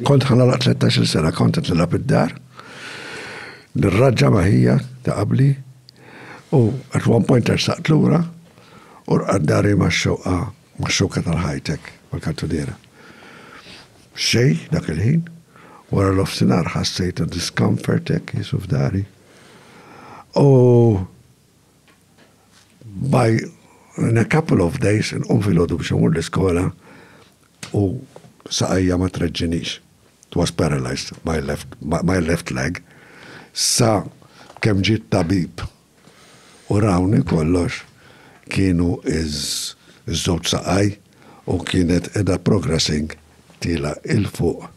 Kont ħanala 13-il sena kont qed nilgħab id-dar. Nirraġġa ma' ħija ta' qabli u at one point ersaqt lura u rqaddari ma' xoqa ma' xoqa tal-ħajtek mal-kantuniera. Xej dak il-ħin wara l-ofsinar ħassejt discomfort hekk jisu f'dari. U By in a couple of days inqum filgħodu biex immur l-iskola u saqajja ma treġġinix. It was paralysed my left, my left leg. Sa kemm ġie t-tabib u rawni kollox kienu ż-żewġ saqaj u kienet qiegħda progressing tiela' 'il fuq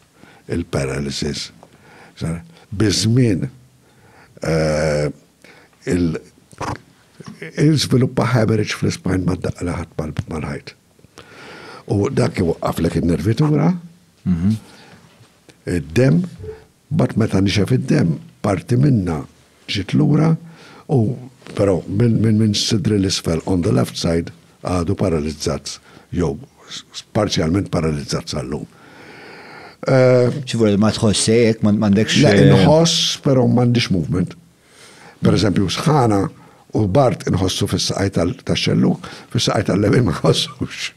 il-paralysis. Biż-żmien, Il-żviluppa hemorrhage fl-ispine ma daqqa li ħadd mal-ħajt. U dak iwaqqaflek in-nervitura, mhm. id-dem, bat meta nixef id-dem, parti minna ġiet lura u però minn minn sidri l-isfel on the left side għadu paralizzat jew parzjalment paralizzat sal-lum. Ċivur ma tħossej, jek ma għandekx. Le, eh, nħoss, pero ma għandix movement. Per eżempju, sħana u bart nħossu fis-saqaj tal-xellu, fis-saqaj tal-lemin ma nħossux.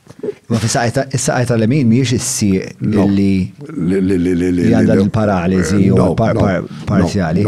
Ma fis-saqaj tal-lemin miex issi li li għandha l-paralizi u parzjali.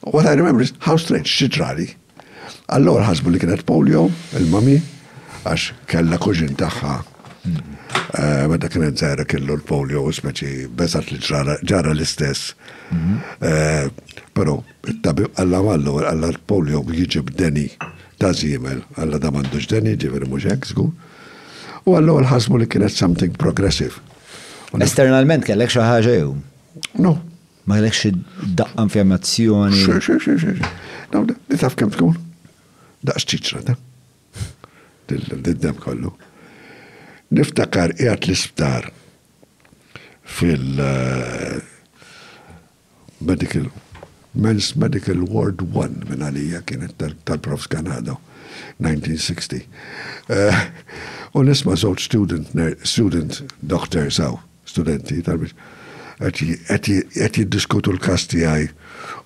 What I remember is, how strange, xi ġrali? Għall-ewwel ħasbu li kienet polio, il-mommy, għax kellha kuġin tagħha eh, meta kienet żgħira kellu l-polio u speċi beżat li ġara l-istess. Mhm. Eh, però it-tabib għalla għallu għalla l-polio jiġi b'deni ta' zimel, għalla da m'għandux deni, ġifieri mhux hekk żgur. U għallu ħasbu li kienet something progressive. Esternalment kellek xi ħaġa jew? No, Ma kellek xi daqqa infjammazzjoni? Xi, xi, xi, xi, xi. Dawn, li taf kemm tkun? Daqs ċiċra ta' dil-dem kollu. Niftakar qiegħed l-isptar fil- eh, medical Men's Medical Ward 1 minn għalija kienet tal-Prof Ganado 1960. Eh, u nisma żewġ student, student doctor saw Studenti, talbiet, qed jiddiskutu l-każ tiegħi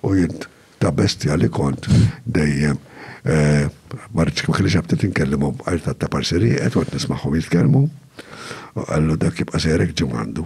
u jien ta' bestja li kont dejjem ma rridx ma kellix aptit inkellimhom għajr ta' taparsiri, qed kont nismagħhom jitkellmu u qallu dak jibqa' sejrek ġimgħandu.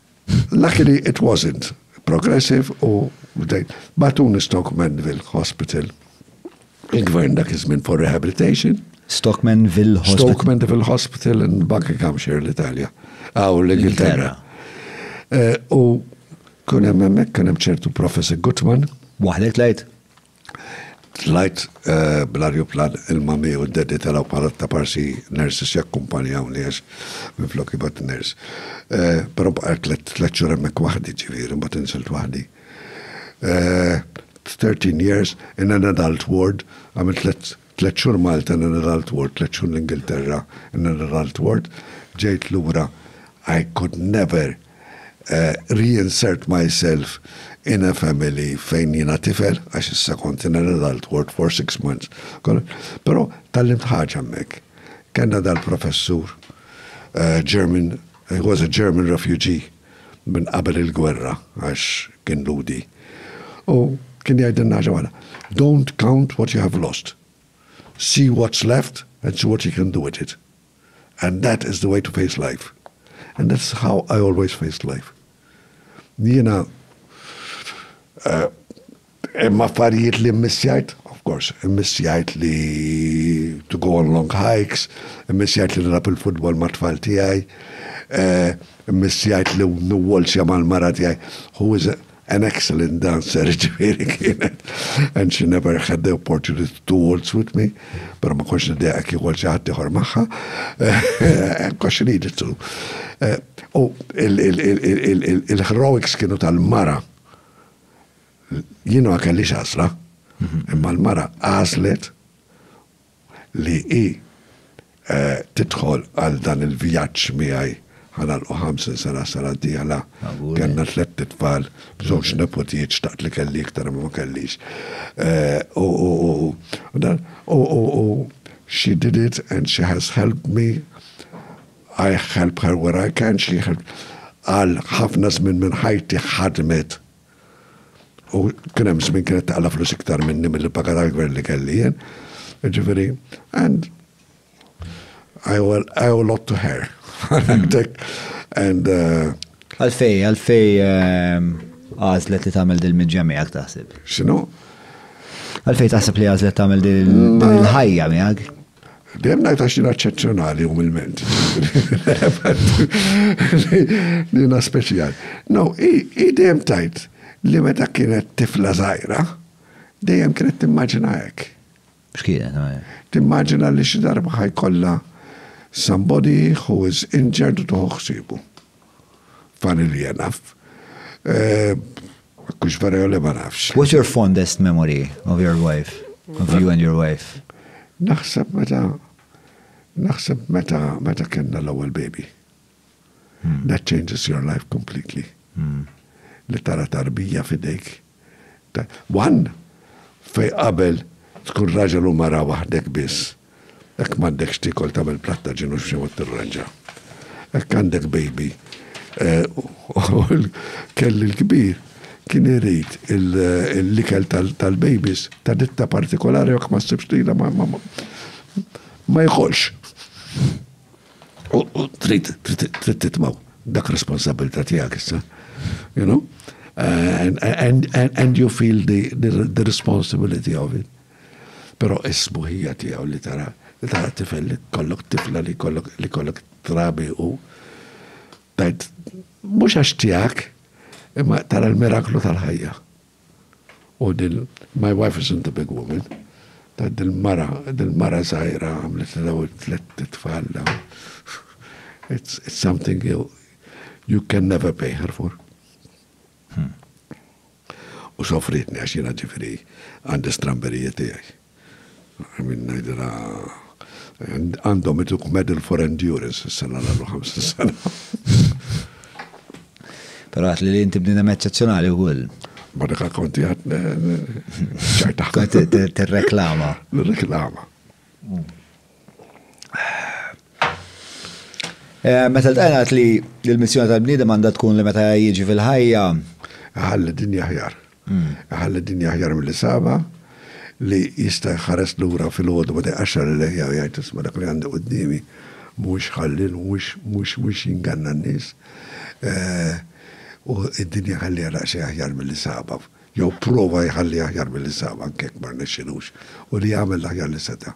Luckily it wasn't. Progressive u bdejt. Batuni Stockmanville Hospital. Il-gvern dak iż-żmien for rehabilitation. Stockmanville Hospital. Stockmanville Hospital in Buckinghamshire l-Italja. Aw l-Ingilterra. Eh, u kun hemm hemmhekk kien hemm ċertu Professor Gutman. Waħdek tlajt? Tlajt bl-arjuplan il-Mami u d-Daddy telgħu bħala t-taparsi nurses jakkumpanjawni għax minflok jibgħat nurse. Però bqajt tliet xhur hemmhekk waħdi ġifieri mbagħad inżilt waħdi. Thirteen years in an adult ward għamilt tliet Tliet xhur Malta and another I'll tour, tliet xhur l-Ingilterra and another I'll tour, ġejt lura I could never reinsert myself in a family fejn jiena tifel għax issa kont in another I'll tour for six months. Però tgħallimt ħaġa hemmhekk. Kellna dal-professur German, he was a German refugee. minn qabel il-gwerra għax kien Lhudi. U kien jgħidilna ħaġa waħda, Don't count what you have lost. See what's left and see what you can do with it. And that is the way to face life. And that's how I always faced life. Jiena Hemm affarijiet li mmiss jgħid, of course, immiss jgħid li to go on long hikes, immiss jgħid li nilgħab il-futbol mat-tfal tiegħi, immiss jgħid li niwwolzja mal-mara tiegħi, who is an excellent dancer, jiġifieri kienet, and she never had the opportunity to waltz with me, però ma kontx niddeja jekk iwolz xi ħadd ieħor magħha, because she needed to. U il-heroics kienu tal-mara. Jien ma kellix għażla, imma l-mara għażlet li hi eh, tidħol għal dan il-vjaġġ miegħi ħanalqu 50 sena sena d-dieħla. Kenna tlet titfal, bżonx nepotijiet xtaqt li kelli iktar ma kellix. Eh, u she did it and she has helped me. I help her where I can, she helped. Għal ħafna żmien minn ħajti ħadmet U kien hemm żmien kienet taqla' flus iktar minni milli paga tal-gvern li kelli jien. Ġifieri, and I owe, I owe a lot to her. and uh, Għalfej, għalfej ehm, għazlet li tagħmel dil-midġa miegħek taħseb. X'inhu? Għalfej taħseb li għazlet tagħmel dil-ħajja miegħek? Dejjem ngħid għax jiena eċċezzjonali umilment. Jiena speċjal. No, hi dejjem tajt li meta kienet tifla żgħira, dejjem kienet timmaġina hekk. X'kienet għajja? Timmaġina li xi darba ħajkollha somebody who is injured u tuħu ħsibu. Funny li enough. Kux vera jew le ma nafx. What's your fondest memory of your wife, of you and your wife? Naħseb meta, naħseb meta, meta kellna l-ewwel baby. Hmm. That changes your life completely. Hmm. Li tara tarbija fidejk. One, fejn qabel tkun raġel u mara waħdek biss, hekk m'għandekx tiekol tagħmel platt ta' ġin u b'xi mod tirranġa. Hekk għandek baby. Kelli l-kbir kien irid l-ikel tal-babies ta' ditta partikolari u jekk ma ssibx lilha ma jkolx. U trid titmaw dak responsabilità tiegħek issa. You know? And, and, and, and you feel the, the, the responsibility of it. Pero isbuħija tiegħu li tara li tara tifel li kollok tifla li kollok li kollok trabi u tajt mhux għax tiegħek imma tara l-miraklu tal-ħajja. U din my wife isn't a big woman, dil-mara, dil-mara żgħira għamlitlna dawn it-tliet itfal dawn. It's something you you can never pay her for. U sofritni għax jiena ġifieri għandi stramberijiet tiegħi. Min ngħidilha għandhom ituk medal for endurance is-sena l-għallu 50 sena. Pero għat li inti bnidem eccezjonali u għull. Madaka konti għat ċajta. T-reklama. T-reklama. Eh, meta l-tajna li l-missjoni tal-bnidem għanda tkun li meta jieġi fil-ħajja. Għalli dinja ħjar. Iħalli d-dinja aħjar milli sabha, li jista' jħares lura filgħodu meta jqaxxar il-leħja u jgħid, Isma' dak li għandi quddiemi mhuwiex ħallil, mhux mhux jinganna n-nies. U d-dinja ħalliha daqsxejn aħjar milli sabha. Jew pprova jħalliha aħjar milli sabha anke jekk ma rnexxilux. U li jagħmel l-aħjar li seta'.